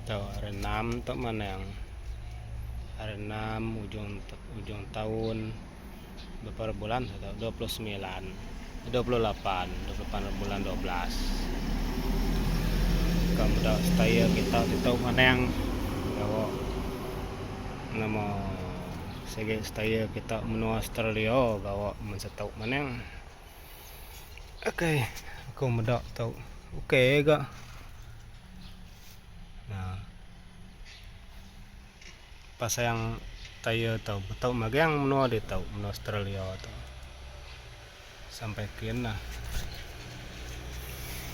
Tau hari enam tu manang hari enam ujung ujung taun bepara bulan seh tau dua puluh semilan dua puluh lapan dua puluh lapan bulan dua belas ka meda setaya kita ditu manang gawa nama sigi setaya kita menua Australia gawa mun setu manang. Okay, aku meda tau okay ga. Ha. Pasang tayar tau, tau magang menua dia tau, menua Australia tau. Sampai kin lah.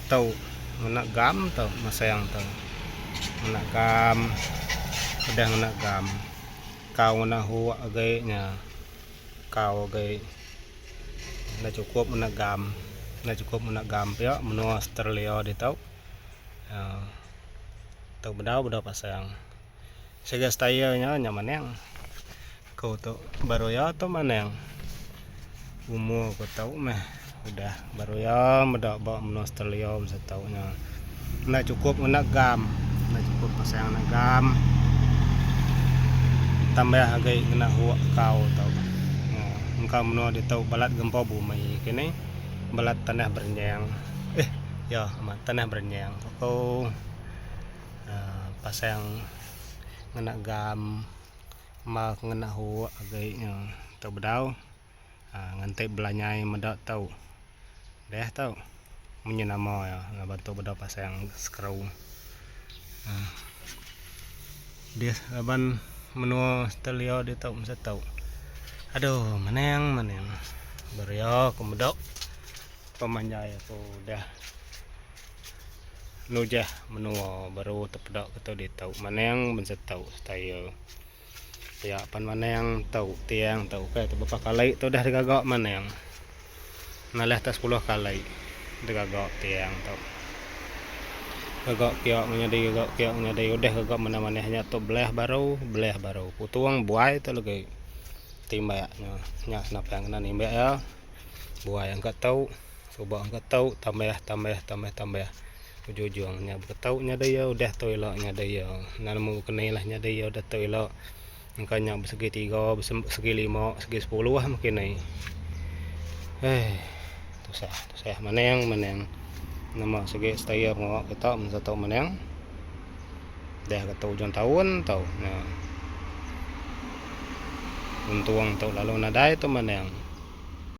Tau ngena gam tau masang tau. Ngena gam. Udah ngena gam. Kau ngena hook agaknya. Kau agi enda chukup ngena gam, enda chukup ngena gam pia menua Australia ditu. Aaa tu bedau bedau pasang. Segi style nya nya maneng. Aku tu baru iya tu maneng. Umur aku tu meh. Udah baru iya meda ba menua Australia masa tu nya. Enda chukup ngena gam. Enda chukup pasang ngena gam. Tambah agi ngena hook kau tu. Engka menua ditu balat gempa bumi ke ni. Balat tanah berenyang. Eh, iya amat tanah berenyang. Ku aku uh, pasang ngena gam. Mba ngena hook agi nya. Tu bedau. Ha nganti belanyai meda tu. Deh tu. Munyi nama ya laban tu beda pasang skru. Ha. Deh laban menua Australia dia tu mesti tu. Aduh, menang menang. Beria aku meda pemanjai aku dah nujah menua baru tepeda ke tu dia tu. Menang mesti tu style. Pia pan maneng tu tiang tu ke tu bepa kali tu dah digaga maneng. Nalih tak sepuluh kali digaga tiang tu. Gaga pia menyadi gaga pia menyadi udah gaga manah-manah nya tu belah baru belah baru putung buai tu lagi timbak nya nya senapang kena nimbak iya buai angka tu. Suba engka tau tambah tambah tambah tambah. Ujung-ujung nya buka tau nya dia udah tau ila nya dia. Nan nemu keni lah nya dia udah tau ila. Engka nya bersegi tiga, bersegi lima, bersegi sepuluh ah mungkin ai. Eh tusah tusah maneng maneng. Nama segi stayer ngawa kita mun satu maneng. Dah kata ujung taun tau nya. Untung tau lalu nadai tu maneng.